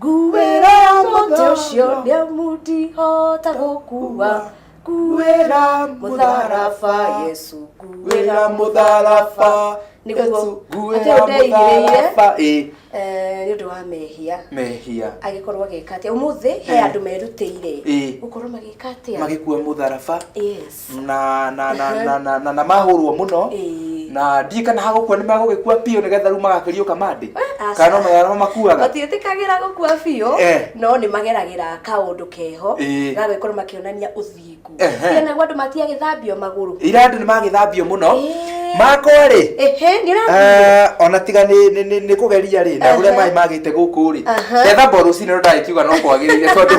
Nguĩra mũtĩ ũcio nĩ amu ndihota gũkua nguĩra mũtharaba yesu nguĩra mũtharaba nĩguo atĩ ũndeigĩrĩire eh, nĩ ũndũ wa mehia mehia agĩkorwo agĩka atĩa ũmũthĩ he eh. andũ merutĩire eh. gũkorwo magĩka atĩa magĩkua mũtharaba na na na na na na, na mahũrwo muno Ĩĩ. na ndiĩ kana hagũkua nĩ magũgĩkua piũ nĩgetha rĩu magakĩriũka mandĩ aca. kana no magana makuaga matiĩtĩkagĩra gũkua biũ Eh. no nĩ mageragĩra kaũndũ keho Ĩĩ. gagĩkorwo makĩonania ũthingu Ehe. kana andũ matiagĩthambio magũrũ ira andũ nĩ magĩthambio mũno Ĩĩ. makorĩ ehe nĩ ũrathiĩ ona tiga nĩ- nĩ- nĩ- nĩ kũgeria rĩ na ũrĩa Aha. maĩ magĩte gũkũ rĩ Aha. ndethamba rũcinĩ no ndagĩkiuga no kwagĩrĩire tondũ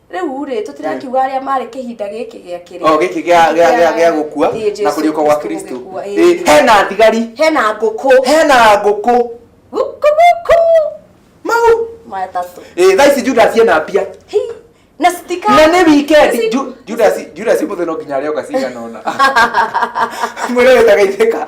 Rĩu-rĩ, tũtirakiuga arĩa marĩ kĩhinda gĩkĩ gĩa kĩrĩa. O gĩkĩ gĩa gĩa gĩa gĩa gũkua Ĩĩ, na Jesu kũriũka gwa Kristo Kristo. gũgĩkua, ĩĩ. Ĩĩ, hena thigari, Hena ngũkũ. hena ngũkũ. Gũkũ gũkũ. Mau. Matatũ. Ĩĩ, thaa ici Judas ena mbia. Hi. Na citika. Na nĩ weekend. Nĩci- Ju- Judas Judas mũthĩ no nginya arĩoga cigana ũna. Mwĩre wĩta geithĩka.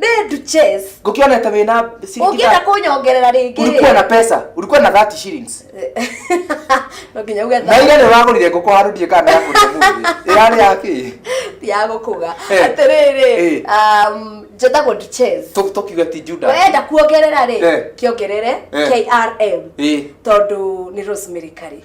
Nĩ ndu chess. ngũkĩonete wĩ na ciringi Ũngĩenda thate. kũnyongerera rĩngĩ. ulikuwa na pesa ulikuwa na 30 shillings No nginya uge na ile nĩ wagũrire ngũkũ handũ ndiĩ kana ya kũrĩa mũthĩ ĩrarĩ ya kĩ ya gũkũga. Eh. Atĩrĩrĩ, Eh. um, njĩtagwo ndu chess. Tũ- tũkiuge ti juda Wenda kuongerera rĩ, Eh. kĩongerere Eh. KRM. Ĩ. Tondũ nĩ Rosemary Kari.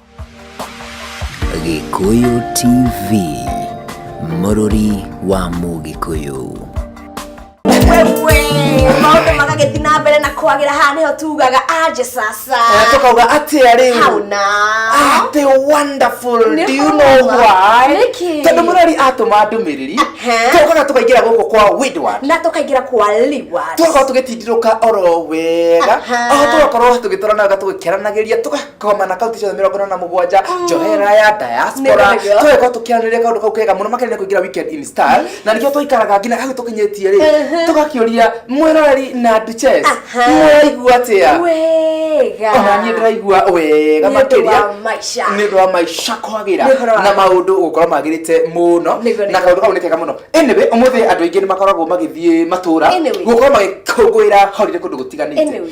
Gĩkũyũ TV, mũrũri wa Mũgĩkũyũ. maundu magagĩthi na mbere na kwagĩra haha nĩho tugaga anje sasa tukauga atia riu hau na atä wonderful Nĩ do you know homa. why Nĩkĩ? tondå må rori atåma ndå mä rä ri Aha. tåkaga tå kaingä ra gå kå kwa Windward. na tũkaingĩra kwa liwa tågakorwo tå gä tindä rå ka oro wega Aha. o tågakorwo tå gä twaranaga tå gä keranagä ria koma na kaunti ciothe mĩrongo ĩna na mũgwanja njohera ya diaspora Nĩ wega. twĩgwo tũkĩaranĩria kaũndũ kau kega mũno makĩria nĩ kũingĩra weekend in style na nĩkĩo twaikaraga nginya hau tũkinyĩtie rĩ tũgakĩũria mwĩroreri na duchess Aha. mũraigua atĩa wega ona niĩ ndĩraigua wega Nĩ ũndũ makĩria wa maica. nĩ ũndũ wa maica kwagĩra Nĩ ũhoro wa- na maũndũ gũkorwo magĩrĩte mũno Nĩguo, na nĩguo. kaũndũ kau nĩ kega mũno anyway ũmũthĩ andũ aingĩ nĩ makoragwo magĩthiĩ matũra Anyway. gũkorwo magĩkũngũĩra holiday kũndũ gũtiganĩte Anyway.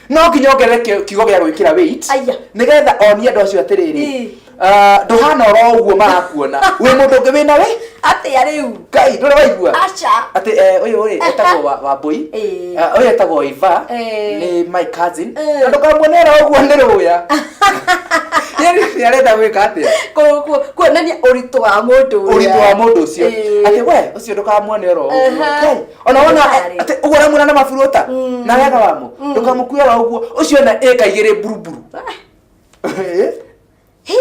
no nginya ongerere ki- kiugo gĩa gwĩkĩra weight Aya. nĩgetha onie andũ acio atĩrĩrĩ Ĩ. ah, ndũhana oro ũguo marakuona wĩ mũndũ ũngĩ wĩna wĩ atĩa rĩu ngai ndũrĩ waigua aca atĩ eh, ũyũ rĩ etagwo wa- wambũi Ĩ. Ah, ũyũ etagwo iva Ĩ. nĩ my cousin Ĩ. na ndũkamuonera ũguo nĩ rũya Yaani, nĩ arenda gwĩka atĩa Ku- ku- kuonania ũritũ wa mũndũ ũrĩa. ũritũ wa mũndũ ũcio Ĩ. atĩ we ũcio ndũkamuone oro ũguo Aha. Ngai, ona wona Ndagĩtarĩ. atĩ ũguo ũramwĩra na maburuta na wega wamo ndũkamũkue wa ũguo ũcio na ĩka igĩrĩ mburuburu Eh? Hi,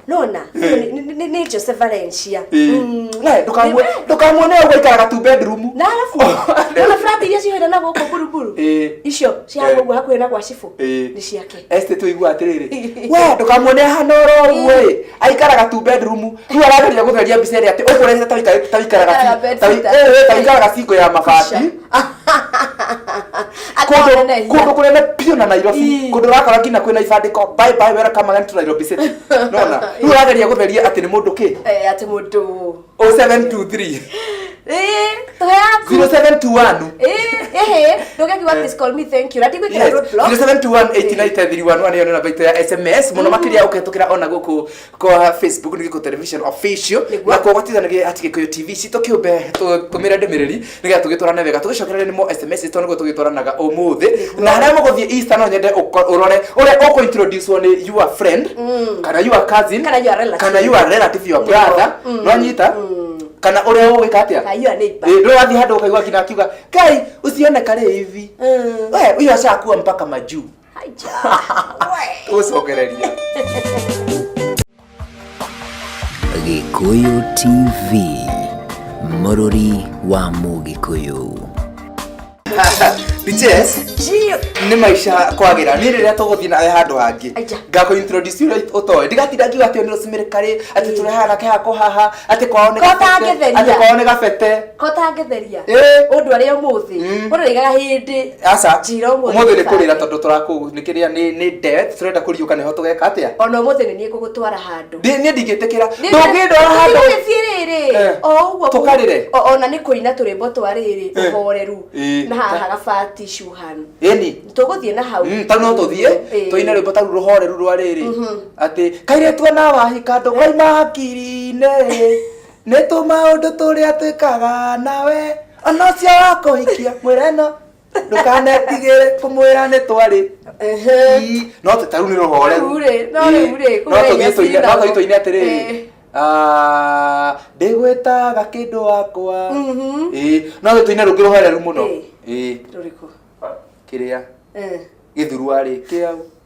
nona nĩ- nĩ- nĩ- nĩ jose valencia Mm. Nae, ndũkamue- Nĩ- ndũkamuone ũguo aikaraga tu bedroom na arabu nona frat iria cihoire na gũkũ buruburu Eh. icio Eh. cihagwo ũguo hakuhĩ na gwa cibũ Eh. nĩ ciake Este tũigua atĩrĩrĩ we ndũkamuone ahana oro ũguo ĩ aikaraga tu bedroom rĩu arageria gũtheria mbica ĩrĩa atĩ ũkũrehete ta wĩka- ta wĩikaraga Aikaraga bed ta wĩ- sitter. ĩ, ĩ, ta wĩikaraga cingo ya mabati kũndũ kũndũ kũnene biũ na Nairobi Ii. kũndũ ũrakora nginya kwĩna ibandĩko bye bye welcome again to Nairobi city nona rĩu ũrageria gũtheria atĩ nĩ mũndũ kĩ atä må ndå 0723 Eh, tũhe yaku 0721 Eh, ehe ndũgekiuga please call me thank you na ndigwĩkĩra Yes, roadblock 0721893111 nĩyo nĩ namba itũ ya sms mũno makĩria ũkĩhetũkĩra ona gũkũ kwa facebook nĩ gĩkũ television official Nĩguo. na kuo gwatithanagia ati gĩkũyũ tv citũ kĩũmbe tũmĩre ndĩmĩrĩri nigetha tugitwarane wega tugicokerere nimo sms to niguo tugitwaranaga umuthi na haria muguthiĩ easter no nyende ũko- ũrore ũrĩa ũkũ introduce nĩ your friend kana your cousin Kana your relative. kana your relative your brother no nyita kana ũrĩa ũgwĩka atĩa Kana your neighbor. Ĩ, ndũrĩ wathiĩ handũ ũkaigua nginya akiuga kai usione kale hivi Mm. we huyo ashakuwa mpaka majuu tũcokereria gĩkũyũ tv mũrũri wa mũgĩkũyũ Bitches, nĩ maisha kwagĩra nĩ rĩrĩa tũgũthiĩ nawe handũ hangĩ Aija. ngakũ introduce you right ũtoe ndigatinda ngiuga atĩ ũyũ nĩ rũcimirĩkarĩ atĩ tũrehana ke hako haha atĩ kwao nĩ Kota gabete, gĩtheria. atĩ kwao nĩ gabete ko tangĩtheria Ĩ. ũndũ arĩa ũmũthĩ Mm. ũrĩgaga hĩndĩ aca Njĩra ũmũthĩ ũmũthĩ nĩ kũrĩra tondũ tũrakũ nĩ kĩrĩa nĩ nĩ death tũrenda kũriũka nĩho tũgeka atĩa ona ũmũthĩ nĩ niĩ ngũgũtwara handũ Ndĩ- niĩ ndingĩtĩkĩra ndũngĩndwara handũ gĩthiĩ rĩrĩ Eh. o ũguo Tũkarĩre. o- ona nĩ kũina tũrĩmbo twa rĩrĩ Eh. ũhoreru Eh. na haha gabati shuhan ĩni tũgũthiĩ na hau Mm, tau no tũthiĩ Eh. tũine rwĩmbo tau rũhoreru rwa rĩrĩ Mhm. atĩ kairĩtu ona wahika ndũkaima hakiri-inĩ nĩ tũmaũndũ tũrĩa twĩkaga nawe ona ũcio wakũhikia mwĩra ĩno ndũkanetigĩre kũmwĩra nĩ twarĩ Ii, no tũtarũ nĩ rũhoreru Rĩu rĩ, no Ii, rĩu rĩ, no kũrĩa tũthiĩ tũine nyacira. no tũthiĩ tũine atĩrĩrĩ Eh. Ah, ndĩgwĩtaga kĩndũ wakwa Mhm. Ii, no tũthiĩ tũine rũngĩ rũhoreru mũno Eh. Ii, rũrĩkũ kĩrĩa Eh. gĩthurua rĩ kĩau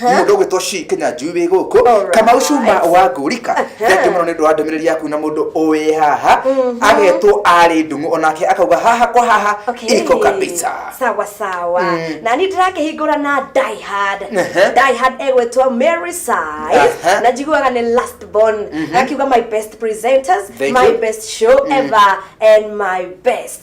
mundu gwitwo shi kenya njui wi guku Alright. kamau cuma wa ngurika thengi muno ni ndu wa ndumiriri yaku na mundu uwi haha agetwo ari ndungu onake akauga haha kwa haha Okay. iko kabisa sawa sawa Mm. na ni ndirakĩhingũra na diehard Ehe. diehard egwĩtwo mary sai Aha. na njiguaga nĩ last born akiuga my best presenters Thank my you. best show ever and my best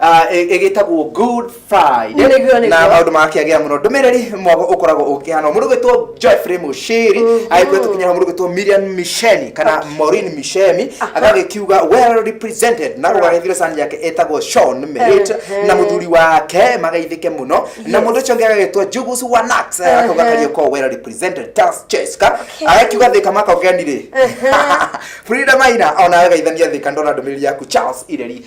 Ah, ĩ- ĩgĩtagwo good friday Nĩ guo, nĩ na guo. maũndũ makĩagĩa mũno ndũmĩrĩri mwago ũkoragwo ũkĩhana mũndũ gwĩtwo joyfrey mũciri agĩkwĩra tũkinyana mũndũ gwĩtwo miriam misheni kana morin mishemi agagĩkiuga well represented na ũgagĩthire sani yake ĩtagwo shon merit Ehe. na mũthuri wake magaithĩke mũno na Yes. mũndũ ũcio ũngĩ agagĩtwo jugus wanax Ehe. akauga kariũkoo well represented tas cheska agakiuga thĩka makaũgenirĩ Ehe. frida maina ona agaithania thĩka ndona ndũmĩrĩri yaku charles ireri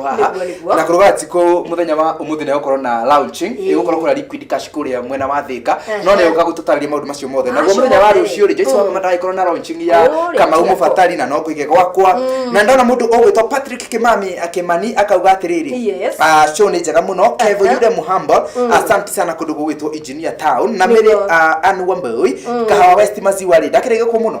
haha Nĩguo, nĩguo. na kũruga tiko muthenya wa umuthi ni gukorwo na launching Ĩĩ. igukorwo kuna liquid cash kuria mwena wa thika Ehe. no ni uka gututariria maundu macio mothe naguo Acio muthenya wa mothe. rucio ri Joyce Mm. wa mama ndagĩkorwo na launching ya Ũrĩa kamau tiga mubatari na no kuige gwakwa na ndona mundu ugwitwo Patrick Kimami akimani akauga atiriri Yes. ah show ni njega muno Kevo Aha. Yuda Muhamba asante sana kundu gugwitwo engineer town na mere Nĩguo. ah, Anne Wambui kahawa West Maziwa ri ndakirege kwa muno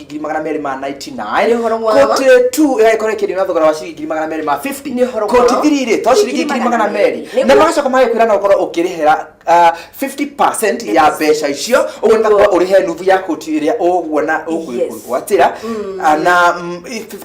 ngiri magana merĩ ma 99 Nĩ ũhoro mwega. koti tu ĩgagĩkorwo ĩkĩendio na thogora wa ciringi ngiri magana merĩ ma 50 Nĩ ũhoro koti mwega. thiri rĩ to ciringi Ngiri ngiri magana magana merĩ merĩ. na Nĩguo. magacoka magagĩkwĩra no ũkorwo ũkĩrĩhĩra ah, 50% ya mbeca icio ũguo nĩ Nĩguo. ũrĩhe nuthu ya koti ĩrĩa ũguona ũgwĩgwatĩra na mm,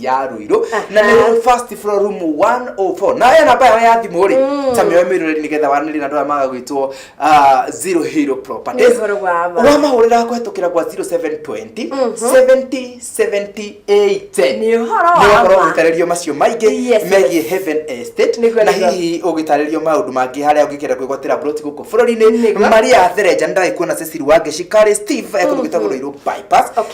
ya rũirũ na nĩ first floor room 104 na aya namba yao ya thimũ rĩ Mm. ta mĩoe mĩrũrĩ nĩgetha wanĩrĩ na ndwaya maga gwĩtwo ah, zero hero properties Nĩ ũhoro wa ma. wamahũrĩra kũhetũkĩra kwa 0720 70 70 810 Nĩ ũhoro wa Nĩ ũhoro ma. ũgĩtarĩrio macio maingĩ Yes, megiĩ heaven estate Nĩguo, na nĩguo. hihi ũgĩtarĩrio maũndũ mangĩ harĩa ũngĩkenda kwĩgwatĩra broti gũkũ bũrũri-inĩ Nĩguo. maria therenja nĩ ndagĩkuona ceciri wa ngeci karĩ steve ekũndũ gĩtagũrũirwo bypass Okay.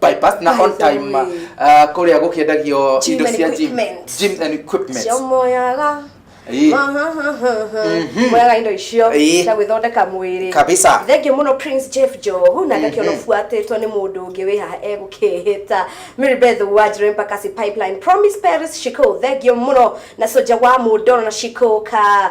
bypass na on time uh, kuria gukiendagio indo cia gym gym and equipment cio moyaga mwaga indo icio cia gwĩthondeka mwĩrĩ kabisa thengiũ mũno prince jeff johu na ndakĩona mhm. buatĩtwo nĩ mũndũ ũngĩ wĩ haha egũkĩhĩta mary beth wanjire mpaka si pipeline promise paris shiko thengiũ mũno na soja wa mũndoro na shiko ka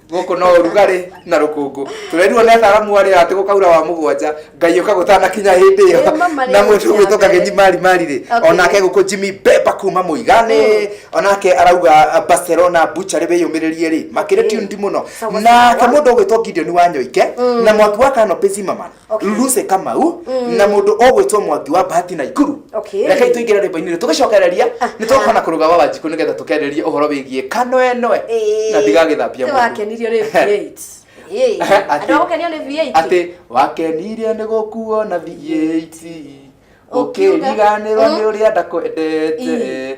gũkũ no ũrugarĩ na rũkũngũ tũrerirwo nĩ ataramu arĩa atĩ gũkaura wa mũgwanja ngai ũka gũtanakinya hĩndĩ ĩyo Eh, mama rĩu na mũndũ cia gwĩtũka mbere. gĩthiĩ mari mari rĩ Okay. onake gũkũ jimmy beba kuma mũigane onake arauga uh, barcelona buchari wĩyũmĩrĩrie rĩ makĩrĩ tundi mũno Sawa, nake sawa. mũndũ ũgwĩtwo gideon wa nyoike na mwaki wa kano pesimaman Okay. luse kamau Mm. na mundu ogwitwo mwangi wa bahati na ikuru Okay. reke tuingire rwimbo-inĩ rĩ tũgĩcokereria nĩ tũgũkorwo na kũrũga wa wanjikũ nĩgetha tũkererie ũhoro wĩgiĩ kanoenoe na ndigagĩthambia mũndũ. wakenirio nĩ V8 Ĩĩ, Atĩ- andũ agũkenio nĩ V8 atĩ wakenirio nĩ gũkuo na V8 ũkĩriganĩrwo nĩ ũrĩa ndakwendete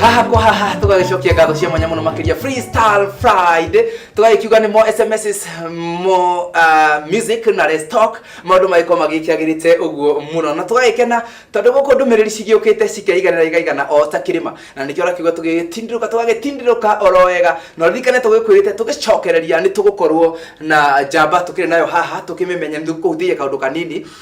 haha kwa haha tũgagĩcokia ngatho cia mwanya mũno makĩria freestyle friday tũgagĩkiuga nĩ mo sms mo uh, music na restock maũndũ magĩkorwo magĩkĩagĩrĩte ũguo mũno na tũgagĩkena tondũ gũkũ ndũmĩrĩri cigĩũkĩte cikeiganĩra igaigana o ta kĩrĩma na nĩkĩo ũrakiuga tũgĩtindĩrũka tũgagĩtindĩrũka oro wega na ririkane tũgĩkwĩrĩte tũgĩcokereria nĩ tũgũkorwo na njamba tũkĩrĩ nayo haha tũkĩmĩmenye nĩ tũkũhutĩria kaũndũ kanini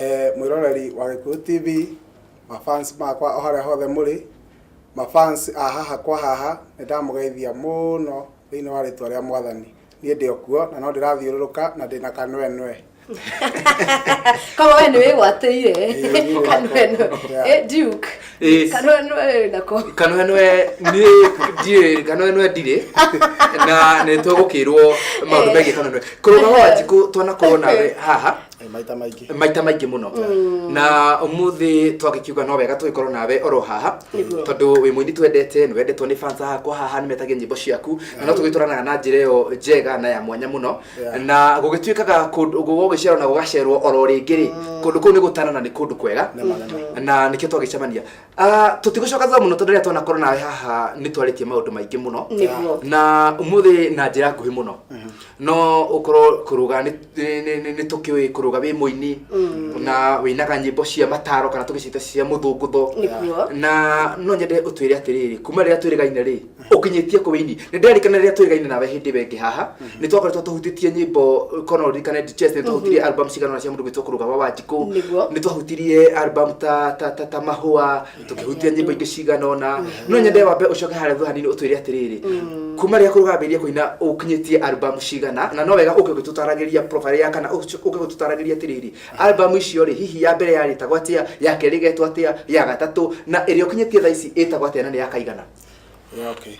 Eh, mwĩroreri wa Gĩkũyũ TV, mafans makwa o harĩa hothe mũrĩ, mafans a haha kwa haha, nĩ ndamũgeithia mũno thĩinĩ wa rĩtwa rĩa mwathani. Niĩ ndĩ o kuo na no ndĩrathiũrũrũka na ndĩ na kanwenwe. Kama wewe ni wewe wateire. Kanwenwe. Eh, Duke. Eh, Kanwenwe nako. kanwenwe niä ndiä kanwenwe ndirä na nä twagå kä rwo maå ndå megiä kanwenwe kå rå ga wanjikå twanakorwo nawe haha Eh, maita maingĩ maita maingĩ mũno mm. na umuthi twakikiuga no wega tũgĩkorwo nawe oro haha tondũ wĩ mũini twendete nĩ wendetwo nĩ fans hakwa haha nĩ metagia nyĩmbo ciaku na no tũgĩtwaranaga na njĩra ĩyo njega na ya mwanya mũno na gũgĩtuĩkaga gũgĩcerwo na gũgacerwo oro rĩngĩ rĩ mm. kũndũ kũu nĩ gũtana na nĩ kũndũ kwega na nĩkĩo twagĩcemania Ah, tũtigũcoka thutha mũno tondũ rĩrĩa twanakorwo nawe haha nĩ twarĩtie maũndũ maingĩ mũno Nĩguo. na ũmũthĩ na njĩra nguhĩ mũno no ũkorwo kũrũga nĩ- nĩ- nĩ- nĩ- nĩ tũkĩũĩ kũrũga wĩ mũini na wĩinaga nyĩmbo cia mataro kana tũgĩcita cia mũthũngũtho Nĩguo. na no nyende ũtwĩre atĩrĩrĩ kuma rĩrĩa twĩrĩgaine rĩ ukinyĩtie kũ wĩini nĩ nderikana rĩrĩa twĩgaine nawe hĩndĩ ĩyo ĩngĩ haha nĩ twakoretwo tũhutĩtie nyĩmbo kono ririkane chess nĩ twahutirie album cigana cia mũndũ gwĩtwo kũrũga wa wanjikũ Nĩguo. nĩ twahutirie album ta ta ta, ta mahũa tũkĩhutia nyĩmbo ingĩ cigana ona no nyende wambe ũcoke harĩa thutha hanini ũtwĩre atĩrĩrĩ kuma rĩrĩa kũrũga ambĩrĩrie kũina ũkinyĩtie album cigana na no wega ũke ũgĩtũtaragĩria profile ya kana ũke ũgĩtũtaragĩria atĩrĩrĩ album icio rĩ hihi ya mbere yarĩtagwo atĩa ya kerĩ ĩgetwo atĩa ya gatatũ na ĩrĩa ũkinyĩtie thaa ici ĩtagwo atĩa na nĩ ya kaigana Okay.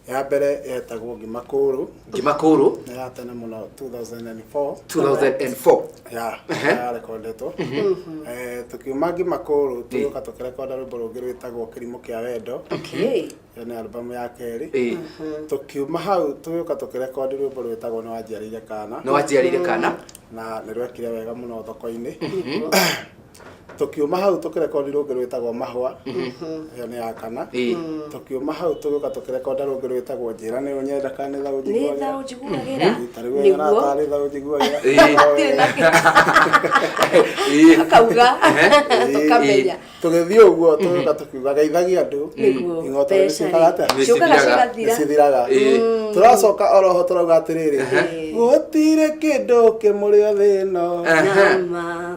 Ya mbere yetagwo ngima kũrũ. Ngima kũrũ. Nĩ ya tene mũno 2004. 2004. Ya. Ya rekondetwo. Mhm. Eh tukiuma ngima kũrũ tuka tukirekonda rwĩmbo rũngĩ rwĩtagwo kĩrimũ kĩa wendo. Okay. Ĩyo nĩ albamu ya kerĩ. Mhm. Tukiuma hau tuka tukirekondi rwĩmbo rwĩtagwo nĩ wanjiarĩire kana. Nĩ wanjiarĩire kana. Na nĩ rwekire wega mũno thoko-inĩ. Mhm. tũkiuma hau tũkĩrekondi rũngĩ rwĩtagwo mahwa ĩyo nĩ ya kana Ĩĩ. tũkiuma hau tũgĩũka tũkĩrekonda rũngĩ rwĩtagwo njĩra nĩ ũnyenda kana nĩ thaũ nĩ thaũ njiguagĩra njiguagĩra tarĩu nĩguo aratarĩ thaũ njiguagĩra Ĩĩ. Hatirĩ na Ĩĩ. akauga ũkamenya tũgĩthiĩ ũguo tũgĩũka tũkiuga geithagia andũ Nĩguo, ing'oto nĩ mbeca-rĩ, ciĩkaga atĩa Nĩ ciũkaga cithiraga. nĩ cigathira cithiraga Ĩĩ. tũracoka oroho tũrauga atĩrĩrĩ Ĩĩ. gũtirĩ kĩndũ kĩmũrĩo thĩno Nama.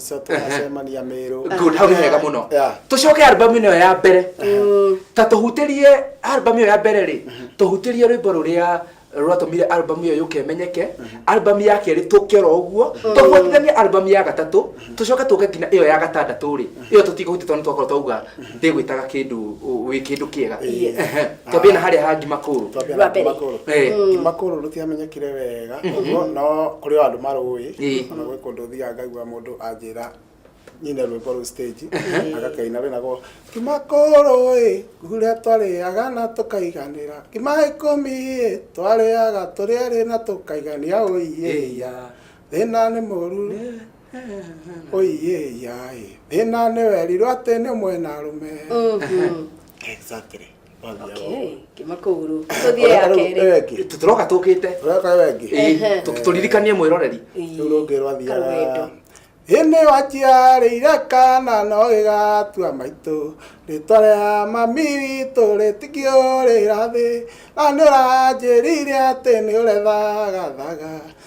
so tũgacemania mĩrũ good hau nĩ hega mũno Yeah. tũcoke albamu ĩno ya mbere ta tũhutĩrie albamu ĩyo ya mbere rĩ tũhutĩrie rwĩmbo rũrĩa rwatũmire albamu ĩyo yũke ĩmenyeke albamu ya kerĩ tũkero ũguo tũbuatithanie albamu ya gatatũ tũcoke tũke nginya ĩyo ya gatandatũ rĩ ĩyo tũtikũhutia tondũ nĩ twakorwo twauga ndĩgwĩtaga kĩndũ wĩ kĩndũ kĩega Ĩĩ. Ehe. twambie na harĩa ha ngima kũrũ Twambia Wa na mbere. Ngimakũrũ. Eh. Ngimakũrũ rũtiamenyekire wega ũguo, no kũrĩ o andũ marũĩ Ĩĩ. ona gwĩ kũndũ thiaga ngaigua mũndũ anjĩra nyine rwĩmbo rũu stage agakaina rwĩnagwo ngimakũrũ ĩ nguria twarĩaga na tũkaiganĩra ngima ikũmi ĩ twarĩaga tũrĩarĩ na tũkaigania ũiĩia thĩna nĩ mũru oiye yaĩ thina nĩ werirwo atĩ nĩ mwena arũme Mhm. exactly Okay, kima kũgũrũ tũthiĩ ya kerĩ tũroka tũkĩte ũreka wengi Ehe. tũririkanie mwĩroreri rĩu rũngĩ rwathiaga ĩnĩ waciarĩire kana no gĩgatua maitũ rĩtwa rĩa mami witũ rĩtikĩũrĩra thĩ na nĩ ũranjĩrire atĩ nĩ ũrethagathaga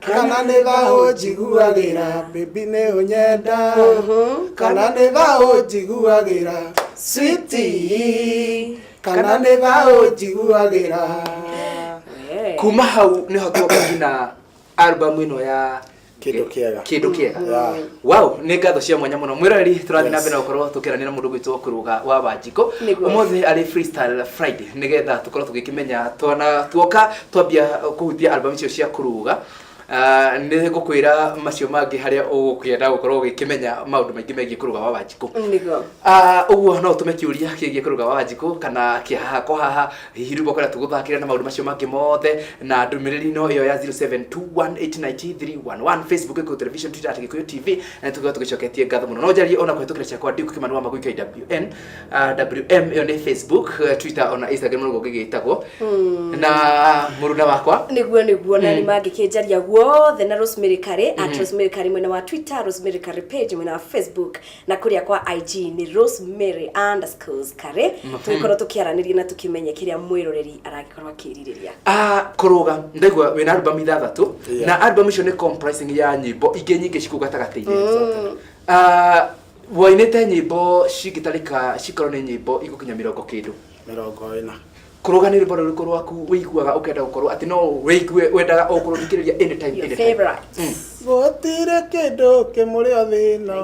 kana nĩ thaũ njiguagĩra bĩbi nĩ ũnyenda kana nĩ thaũ njiguagĩra switi kana nĩ thaũ njiguagĩra kuma hau nĩho twakũgina albamu ĩno ya Kĩndũ kĩega. kĩndũ kĩega Yeah. wow nĩ ngatho cia mwanya mũno mwĩroreri tũrathiĩ na mbere na gũkorwo tũkĩranĩra mũndũ gwitũ kũrũga wa wanjiko Nĩguo. ũmũthĩ arĩ freestyle friday nĩgetha tũkorwo tũgĩkĩmenya twana tuoka Twambia kũhutia album icio cia kũruga, ah, nĩ ngũkwĩra macio mangĩ harĩa ũgũkĩenda gũkorwo ũgĩkĩmenya maũndũ maingĩ megiĩ kũruga wa Wanjikũ. Nĩguo. Ah, ũguo no ũtũme kĩũria kĩgiĩ kũruga wa Wanjikũ kana kĩa haha kwa haha hihi rĩu ũkwenda tũgũthakĩre na maũndũ macio mangĩ mothe na ndũmĩrĩri no ĩyo ya 0721899311 Facebook Gĩkũyũ Television Twitter at Gĩkũyũ TV na nĩtũkorwo tũgĩcoketie ngatho mũno no njarie ona kũhĩtũkĩra ciakwa Duke Kĩmanũ wa Magui KWN ah, WM ĩyo nĩ Facebook, eh, Twitter ona Instagram nĩguo gĩgĩtagwo. Na mũruna wakwa niguo niguo na nĩ mangĩkĩnjaria guothe na rosemary kare at rosemary kare mwena wa twitter rosemary kare page mwena wa facebook na kũrĩa kwa ig nĩ rosemary underscores kare tũgĩkorwo tũkĩaranĩria na tũkĩmenye kĩrĩa mwĩroreri aragĩkorwo akĩrirĩria Ah, kũrũga ndaigua wĩna albamu ithathatũ Yeah. na albamu icio nĩ comprising ya nyĩmbo ingĩ nyingĩ cikũ gatagatĩ-inĩ Ah, Wainĩte nyĩmbo cingĩtarĩka cikorwo nĩ nyĩmbo igũkinya mĩrongo kĩndũ. Mĩrongo ĩna. Kũrũga nĩ rwĩmbo rũrĩkũ rwaku wĩiguaga ũkenda gũkorwo atĩ no wĩigue wendaga o kũrũthikĩrĩria any time any time. Mm. Gũtirĩ kĩndũ kĩmũrĩ o thĩ ĩno.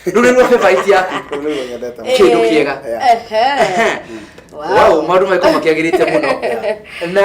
Rĩu nĩ ruo favourite yaku. Rĩu nĩruo nyendete mũno. Kĩndũ kĩega. Ehe. Wow, maũndũ magĩkorwo makĩagĩrĩte mũno. Na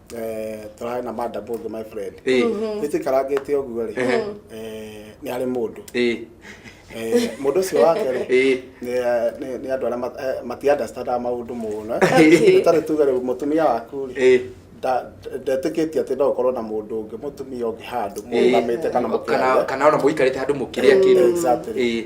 eh, tũrarĩ na madam ũngĩ my friend Eh. Mhm. ĩtikarangĩte ũguo rĩ Eh. eh, nĩ arĩ mũndũ Eh. Eh, mũndũ ũcio wake rĩ Eh. nĩ- nĩ nĩ andũ arĩa mat- eh, matiandastandaga maũndũ mũno Okay. tarĩ tuge rĩu mũtumia waku rĩ Eh. nda- ndetĩkĩtie atĩ no ũkorwo na mũndũ ũngĩ mũtumia ũngĩ handũ Eh. mũrũgamĩte kana Kana- mũkĩaria kana ona mũikarĩte handũ mũkĩrĩa kĩndũ Exactly. Eh.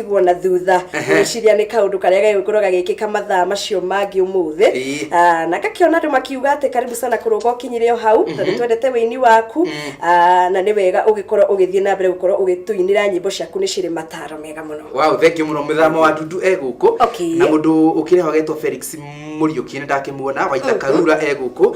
kũiguo na thutha Ehe. ngĩciria nĩ kaũndũ karĩa gagĩkorwo gagĩkĩka mathaa macio mangĩ Ĩĩ. ũmũthĩ Ah, na ngakĩona andũ makiuga atĩ karibu sana kũrũga ũkinyire o hau na nĩ twendete wĩini waku Ah, na nĩ wega ũgĩkorwo ũgĩthiĩ na mbere gũkorwo ũgĩtũinĩra nyĩmbo ciaku nĩ cirĩ mataro mega mũno wow thank you muno muthama wa ndudu e guku Okay. na mundu ukire hogetwo felix muriuki ni ndakimuona waita karura e guku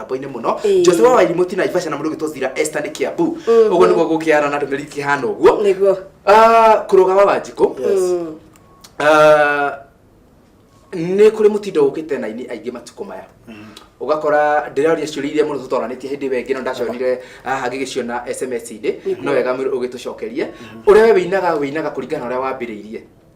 mĩtambo-inĩ mũno Ĩĩ. jose wa wairi mũti na ibasha na mũndũ ũgĩtwo zira esta nĩ kĩambu Mhm. ũguo nĩguo gũkĩara na ndũmĩrĩri kĩhana ũguo nĩguo Ah, kũrũga wa wanjikũ Mm. Ah, nĩ kũrĩ mũtindo ũkĩte na ini aingĩ matukũ maya ũgakora ndĩraria ciũria iria mũno tũtoranĩtie hĩndĩ ĩyo ĩngĩ no ndacionire haha ngĩgĩciona sms-inĩ no wega mwĩrĩ ũgĩtũcokerie ũrĩa we wĩinaga wĩinaga kũringana na ũrĩa wambĩrĩirie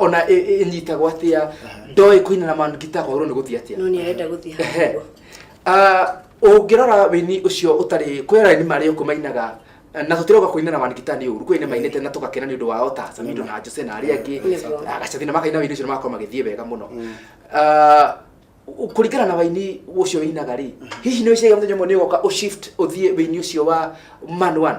ona ĩ- ĩ- ĩnyitagwo atĩa ndoĩ kũina na man guitar kwagĩrĩirwo nĩ gũthiĩ atĩa no nä arenda gå thiä Ehe. Ah, ũngĩrora wĩini ũcio ũtarĩ kwĩra nĩ marĩ ũkũ mainaga eh, na tũtirauga kũina na manigita nĩ ũru kwĩnĩ mainĩte na tũgakena nĩ ũndå wao ta samido na jose na arĩa angĩ Nĩguo. Ah, gacathi na makaina wĩini ũcio nĩ magakorwo magĩthiĩ wega mũno Ah, u- kũringana na waini ũcio wĩinaga rĩ hihi nĩ wĩciragia mũthenya ũmwe nĩ ũgoka ũshift ũthiĩ wĩini ũcio wa man one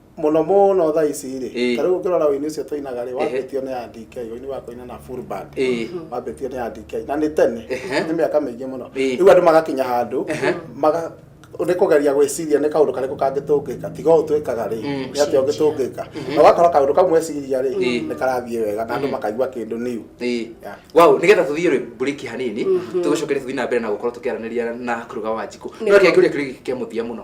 mũno mũno thaa ici rĩ Ĩĩ. ta rĩu ũngĩrora ũini ũcio tũinaga rĩ wambĩtio nĩ ya DK ũini wa kũina na full band Ĩĩ. wambĩtio nĩ ya DK na nĩ tene Ehe. nĩ mĩaka mĩingĩ mũno Ĩĩ. rĩu andũ magakinya handũ maga nĩ kũgeria gwĩciria nĩ kaũndũ karĩkũ kangĩtũngĩka tiga ũũ twĩkaga rĩ Mm. nĩ atĩa ũngĩtũngĩka na ũgakora kaũndũ kau mweciria rĩ Ĩĩ. nĩ karathiĩ wega na andũ makaigua kĩndũ new Ĩĩ. Yeah. wow nä getha tå thiä rä mburiki hanini tå gä coke rä tå thiä na mbere na gå korwo tå kä aranä ria na kå ruga wa njikå no Nĩguo. kä angä å ria kä rä kä a må thia må no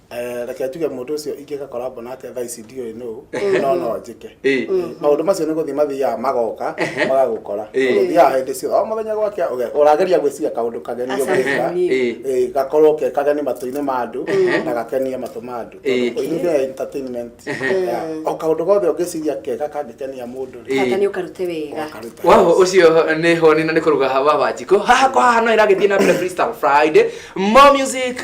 Eh, reke tuge mũndũ ũcio ingĩka korabo nake thaa ici ndiũĩ nũ no no njĩke Eh. Mm, maũndũ macio nĩ gũthiĩ mathiaga magoka Ehe. magagũkora Eh. ũthiaga hĩndĩ ciothe o mũthenya gwakĩa ũge- ũrageria gwĩciria kaũndũ kageni Aca, ũgĩka kageni. Eh. Eh, gakorwo ke kageni matũ-inĩ ma andũ na gakenie matũ ma andũ Eh. ũini nĩ entertainment Yeah. o kaũndũ gothe ũngĩciria kega kangĩkenia mũndũ rĩ, Eh. Kata nĩ ũkarute wega. ũkaruta. waho ucio nä honi na nä kå ruga wa wanjikå haha kwa haha no ä ragä thiä na mbere freestyle friday more music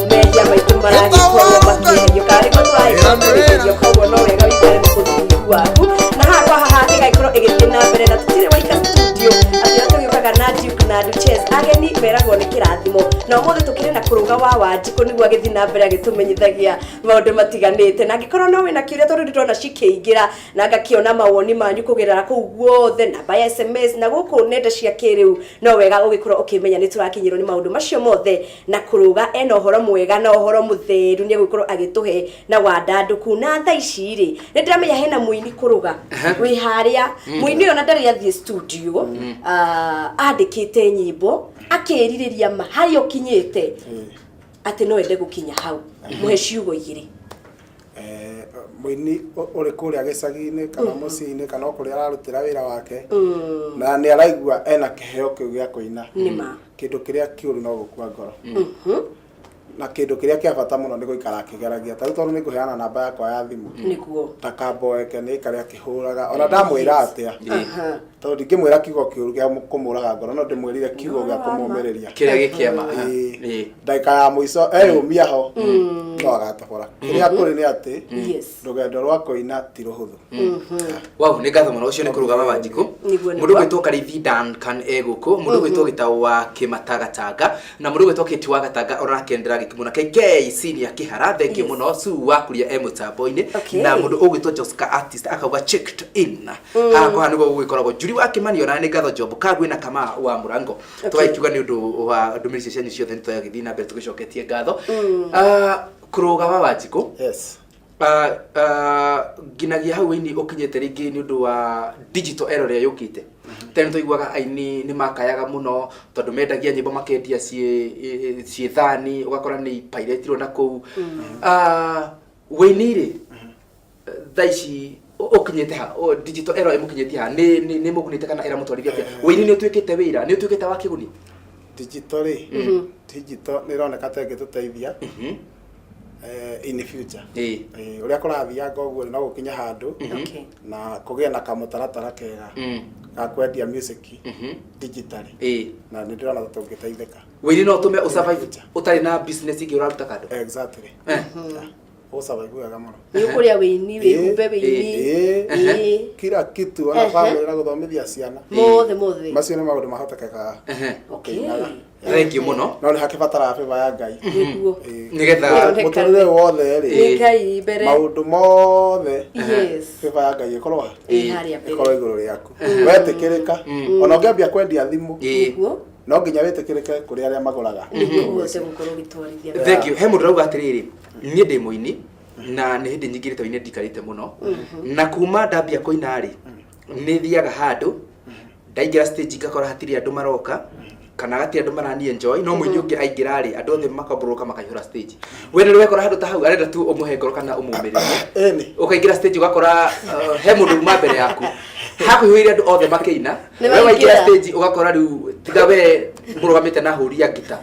Mehia maitũ maragĩkua o makĩgerio karĩ matũraĩ kwambĩrĩrio koguo no wega wĩkare na ũthingu waku na haha kwa haha ĩgagĩkorwo ĩgĩthiĩ na mbere na tũtirĩ waika studio atĩ ũrĩa tũgĩũkaga na Duke na Duchess ageni meragwo nĩ kĩrathimo na ũmũthĩ tũkĩrĩ na kũrũga wa wanjikũ nĩguo agĩthiĩ na mbere agĩtũmenyithagia maũndũ matiganĩte na angĩkorwo no wĩna kĩũria tondũ ndĩrona cikĩingĩra na ngakĩona mawoni manyu kũgerera kũu guothe namba ya sms na gũkũ nenda cia kĩrĩu no wega ũgĩkorwo ũkĩmenya nĩ tũrakinyĩrwo nĩ maũndũ macio mothe na kũrũga ena ũhoro mwega na ũhoro mũtheru nĩ egũgĩkorwo agĩtũhe na wandandũku na tha ici rĩ nĩ ndĩramenya hena mũini kũrũga wĩ harĩa mũini ũyũ na ndarĩ athiĩ studio ah, andĩkĩte nyĩmbo akĩrirĩria ma harĩa ũkinyĩte atĩ no ende gũkinya hau mũhe ciugo igĩrĩ Eh, mũini ũ- ũrĩ kũrĩa gĩcagi-inĩ kana mũciĩ-inĩ kana o kũrĩa ararutĩra wĩra wake na nĩ araigua ena kĩheo kĩu gĩa kũina nĩ ma Kĩndũ kĩrĩa kĩũru no gũkua ngoro. Na kĩndũ kĩrĩa kĩa bata mũno nĩ gũikara akĩgeragia. Ta rĩu tondũ nĩ ngũheana namba yakwa ya thimũ. Nĩguo. Ta kamba oeke nĩ aikare akĩhũraga. Ona ndamwĩra atĩa. Tondũ ndingĩmwĩra kiugo kĩũru gĩa kũmũraga ngoro no ndĩmwĩrire kiugo gĩa kũmũmĩrĩria. Kĩrĩa gĩ kĩa ma. Ĩĩ. Ndagĩka ya mũico eyũmia ho no agatobora. Kĩrĩa kũrĩ nĩ atĩ. Yes. rũgendo rwa kũina ti rũhũthũ wau nĩ ngatho mũno ũcio nĩ kũrũgama wa njikũ Nĩguo, nĩguo. mũndũ gwĩtwo karithi dankan e gũkũ mũndũ gwĩtwo gĩtaũ wa kĩmatagatanga na mũndũ gwĩtwo kĩti wa gatanga ũrakendera gĩkĩ mũno kk senior kĩhara thengio Yes. mũno su wakuria e mũtambo-inĩ Okay. na mũndũ ũgwĩtwo joska artist akauga checked in haha kwa nĩguo gũgĩkoragwo njuri wa kĩmani ona nĩ ngatho njombo kagwĩ na kama wa mũrango tũgagĩkiuga nĩ ũndũ wa ndũmĩrĩri icio cianyu ciothe nĩ tũgagĩthiĩ na mbere tũgĩcoketie ngatho Ah, kũrũga wa wanjikũ yes Ah, ah, nginagia hau ini ukinyite ringi ni undu wa digital era ria yukite tene tuiguaga aini ni makayaga muno tondu mendagia nyimbo makendia ciĩ ciĩ thani ugakora ni pairetirwo na kuu Ah, wĩini rĩ thaa ici ukinyite ha O, digital error imukinyite ha ni ni ni mugunite kana iramutwarithia atia wini ni utuikite wira ni utuikite wa kiguni digital rĩ digital nĩ ĩroneka ta ĩngĩtũteithia eh, in the future Eh. Eh, ũrĩa kũrathianga ũguo no gũkinya handũ Okay. na kũgĩe na kamũtaratara kega Mm. ga kwendia music digitally Eh. na nĩ ndĩrona ta tũngĩteithĩka wini no tume usurvive utari na business ingi uraruta kando exactly Eh. Kwa sababu ya gamano. Ni kuria wini wi kumbe wini. Kila kitu ana family na guthomithia ciana. Mothe mothe. Macio ni maundu mahotekeka. Okay. Thank you muno. No ni hakibatara favor ya Ngai. Niguo. Nigetha muturire wothe ri. Ngai mbere. Maundu mothe. Yes. Favor ya Ngai ikorwo ha. Ikorwo iguru riaku. Wetikirika. Ona ungiambia kwendia thimu. Niguo. no nginya wĩtĩkĩrĩke kũrĩ arĩa magũraga nĩguo ũhote gũkorwo ũgĩtwarithia na thank you he mũndũ rauga atĩrĩrĩ niĩ ndĩ mũini na nĩ hĩndĩ nyingĩrĩte ũinĩ ndikarĩte mũno na kuma ndambia kũina rĩ nĩ thiaga handũ ndaingĩra stage ngakora hatirĩ andũ maroka kana hatirĩ andũ marani enjoy no mũini ũngĩ aingĩra rĩ andũ othe makomborũka makaihũra stage we nĩ wekora handũ ta hau arenda tu ũmũhe ngoro kana ũmũmĩrĩrie Ĩni. ukaingira stage ugakora uh, he mundu uma mbere yaku hakuhĩire andu othe makĩina Nĩ we waingĩra waingĩra. stage ũgakora rĩu tiga we mũrũgamĩte na hũri ya ngita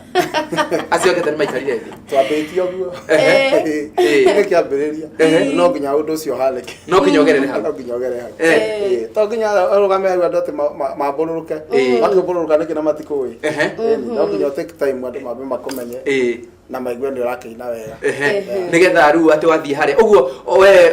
acio angĩ ta nĩmaikarire thĩ twambĩtie ũguo Ehe. Eh. nĩ kĩambĩrĩria Ehe. no nginya ũndũ ũcio ũhanĩke no nginya ũgerere hau no nginya ũgere hau Eh. Eh, to nginya ũrũgame hau andũ atĩ ma- ma- mambũrũrũke Eh. makĩmbũrũrũka nĩkĩ na matikũĩ Ehe. Eh, no nginya ũtake time andũ mambe makũmenye Ĩĩ. na maigue nĩ ũrakĩina wega Ehe. Ehe. nĩgetha rĩu atĩ wathiĩ harĩa ũguo we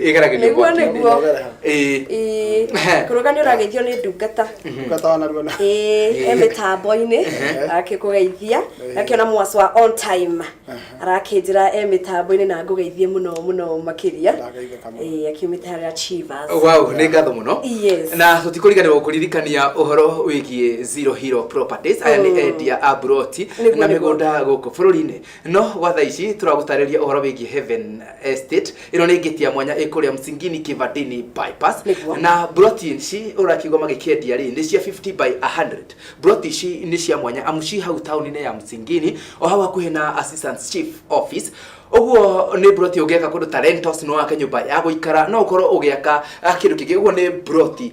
igera gä nĩguo nĩguo Ĩĩ. kũrũga nĩ ũrageithio nĩ ndungata ndungata wa narua na Ĩĩ, e mĩtambo-inĩ akĩkũgeithia akĩona mwaci wa on time arakĩnjĩra e mĩtambo-inĩ na ngũgeithie mũno mũno makĩria Ndageithe kamwe. Ĩĩ, akiumĩte harĩa Chivas wow nä ngatho må no Yes. na tå tikå riganä rwo kå ririkania å horo wä giä zero hero properties aya nä endia a mburoti Nĩguo, na mä nĩguo. gå nda gå kå bå rå ri-inä no gwa thaa ici tũragũtarĩria ũhoro wĩgiĩ heaven estate ĩno nĩ ngĩti ya mwanya ĩ kũrĩa msingini kivadini bypass Nĩguo. na broti ici ũrakiuga magĩkĩendia rĩ nĩ cia 50 by 100 broti ici nĩ cia mwanya amu ci hau taũni-inĩ ya msingini o hau hakuhĩ na assistant chief office ũguo nĩ broti ũngĩaka kũndũ ta rentals no wake nyũmba ya gũikara no ũkorwo ũgĩaka ah, kĩndũ kĩngĩ ũguo nĩ broti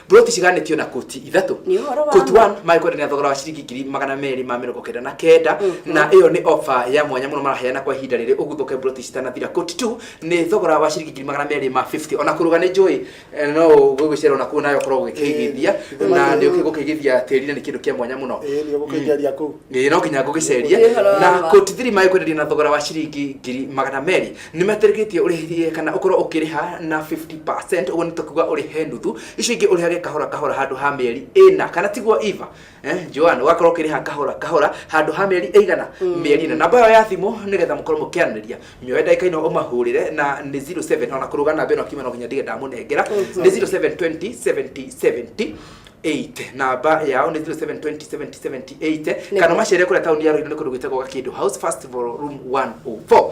Ploti ciganĩtio na koti ithatũ Nĩ ũhoro wa koti ma. one magĩkwendanĩra thogora wa ciringi ngiri magana merĩ ma mĩrongo kenda na kenda na ĩyo nĩ ofa ya mwanya mũno maraheana kwa ihinda rĩrĩ ũguthũke ploti citanathira koti two nĩ thogora wa ciringi ngiri magana merĩ ma 50 ona kũrũga nĩ njũĩ eh, no gũgĩcerwo na kuo nayo ũkorwo ũgĩkĩigithia Ĩĩ, na nĩ nĩ- ũgũkĩigithia tĩri na nĩ kĩndũ kĩa mwanya mũno Ĩĩ, nĩ ũgũkĩingeria kũu. Ĩĩ, no nginya ngũgĩceria Nĩ ũhoro wa na ma. koti thiri magĩkwenderia na thogora wa ciringi ngiri magana merĩ nä matarĩkĩtie ũrĩhie kana ũkorwo ũkĩrĩha na 50 ũguo nĩ tũkuga ũrĩhe nuthu icio ingĩ ũrĩhage kahora kahora handũ ha mĩeri ĩna kana tiguo iva eh, joan ũgakorwo ũkĩrĩha kahora kahora handũ ha mĩeri ĩigana mĩeri ĩna namba ĩyo ya thimũ nĩgetha mũkorwo mũkĩaranĩria mĩoe ndagĩka ino ũmahũrĩre na nĩ 07 ona kũrũga namba ĩno akiuma no nginya ndige ndamũnengera nĩ 0720 70 70 8 namba yao nĩ 07207078 kana macere kũrĩa taũni ya rũirũ nĩ kũndũ gwĩtagwo gakĩndũ house festival room 104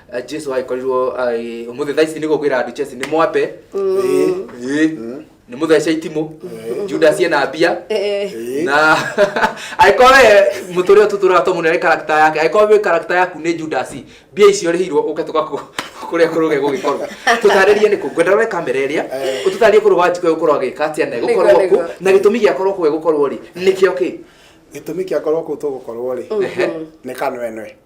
Eh, jesu agĩkorirwo agĩ- ũmũthĩ thaa ici nĩ gũkwĩra andũ chesi nĩ mwambe Ĩ, ĩ, nĩ mũthece itimũ judasi ena mbia Ĩ. na angĩkorwo we mũtũrĩre tũtũraga twa mũnene karakta yake angĩkorwo wĩ karakta yaku nĩ judasi mbia icio rĩhirwo ũke tũgakũ kũrĩa kũrũge gũgĩkorwo tũtarĩrie nĩkũ ngwenda rore kamera ĩrĩa ũtũtarĩrie kũrũ wanjikũ gũkorwo agĩka atĩa na gũkorwo Nĩguo, kũ nĩguo. na gĩtũmi gĩakorwo kũ gũkorwo rĩ nĩkĩo kĩ gĩtũmi kĩa korwo kũ tũgũkorwo rĩ Ehe. nĩ kanwenwe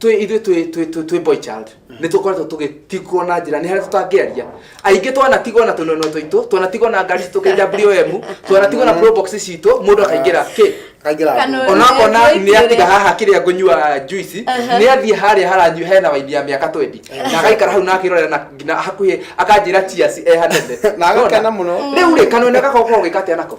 twĩ ithuĩ twĩ twĩ twĩ twĩ boy child nĩ tũkoretwo tũgĩtigwo na njĩra nĩ harĩa tũtangĩaria aingĩ twanatigwo na tũnono tũitũ twanatigwo na ngari citũ kĩnja BOM twanatigwo na pro box citũ mũndũ akaingĩra kĩ kaingĩra Kana- nguo. ona akona Nĩ- nĩ atiga nĩ- haha kĩrĩa ngũnyua juici nĩ athiĩ harĩa haranyua hena waini ya mĩaka twendi na agaikara hau na akĩrorera na nginya hakuhĩ akanjĩra ciaci ehanene Na agakena mũno. rĩu rĩ kanone gako gũkorwo gĩka atĩa nako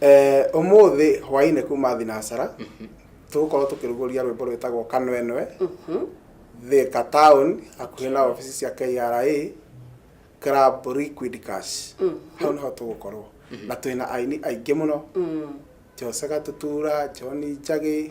Eh, ũmũthĩ hwaĩ-inĩ kuma thinacara tũgũkorwo tũkĩrugũria rwĩmbo rwĩtagwo kanwenwe thika town hakuhĩ na obici cia kra club liquid cash hau nĩho tũgũkorwo na twĩna aini aingĩ mũno jose gatutura john njagi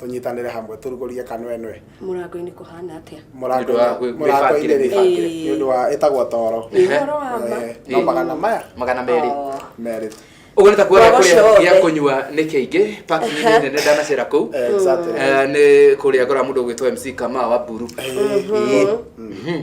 tũnyitanĩre hamwe tũrugũrie kanwenwe mũrango-inĩ kũhana atĩa Nĩ ũndũ wa gwĩ- gwĩbangĩre, gwĩbangĩre. nĩ ũndũ wa ĩtagwo toro Nĩ ũhoro wa ma. Eh, no magana maya magana merĩ Oh. merĩ ũguo nĩ ta kuoria Ngoro kũrĩa ciothe. gĩa kũnyua nĩ kĩingĩ parking nĩ nene ndanacera kũu Eh, exactly. Eh, nĩ kũrĩa ngora mũndũ ũgwĩtwo mc kama wa mburu Eh, Mhm.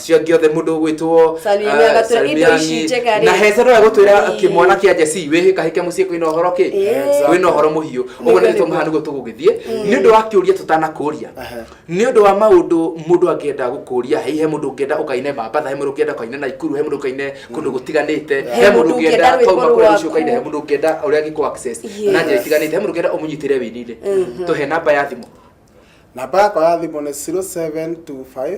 cia giothe mundu gwitwo Salimiani agatwira indo ici njega rĩ. na hece no egutwira Ii. kimwana kia jesi wihika hike mucii kwina uhoro ki Ĩĩ. wina uhoro muhiu uguo Nĩguo, nitwo mahana niguo tugugithie ni undu wa kiuria tutanakuria Aha. ni undu wa maundu mundu angienda gukuria hi he mundu ungienda ukaine mambatha he mundu ungienda ukaine naikuru he mundu ukaine kundu gutiganite He he mundu mũndũ ungienda ũngĩenda kauma rwĩmbo kuria rwaku. rucio ukaine he mundu ungienda uria angiku access Yes. na njira itiganite he mundu ungienda umunyitire winire tuhe namba ya thimu namba yakwa ya thimå nä 0725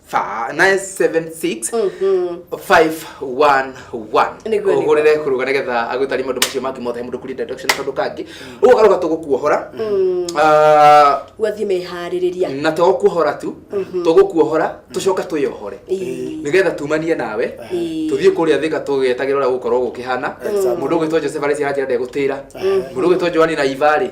fa- 976 Mhm. 511 Nĩguo, nĩguo. ũhũrĩre kũrũga nĩgetha agũtarie maũndũ macio mangĩ mothe he mũndũ kũrinda ndoction kaũndũ kangĩ ũgakarũga tũgũkuohora Ah, wathiĩ meharĩrĩria na to kuohora tu tũgũkuohora tũcoka twĩyohore Ĩĩ. nĩgetha tumanie nawe Ĩĩ. tũthiĩ kũrĩa thika tũgĩetagĩra ũrĩa gũkorwo gũkĩhana mũndũ ũgwĩtwo joseph arĩci aranjĩra ndegũtĩra mũndũ ũgwĩtwo joani na ivarĩ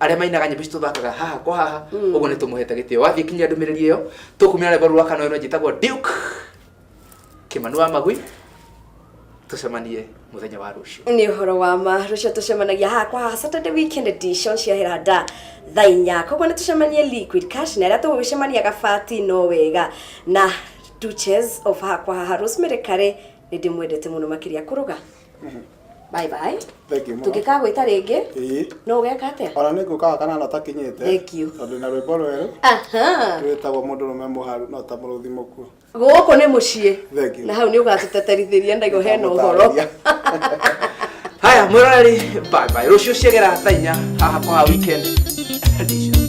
arĩa mainaga nyĩmbo ici tũthakaga haha kwa haha ũguo nĩ tũmũhete gĩtĩo wathiĩ kinyia ndũmĩrĩri ĩyo tũkumĩra rwĩmbo rũrũ rwa kana ĩno njĩtagwo duke kĩmanu wa magui tũcemanie mũthenya wa rũciũ nä å horo wa ma rå cio tå cemanagia haha kwa haha saturday weekend edition cia heranda thaa inya koguo nä tå cemanie liquid cash na arä a tå gå gä cemania gabati no wega na duches of haha kwa haha rosemary kare nä ndä mwendete må no makä ria kå rå ga bye bye Thank you mũno. tũngĩkagwĩta rĩngĩ Ĩĩ. no ũgeka atĩa Ona nĩ ngũkaga kanana ũtakinyĩte. Thank you. Tondũ na rwĩmbo rwerũ Aha. rwĩtagwo mũndũ rũme mũharu no ta mũrũthi mũkuo. gũkũ nĩ mũciĩ Thank you. na hau nĩ ũgatũteterithĩria ndaigo hena ũhoro haya mwĩroreri bye bye rũciũ ciagera thaa inya haha kwa weekend edition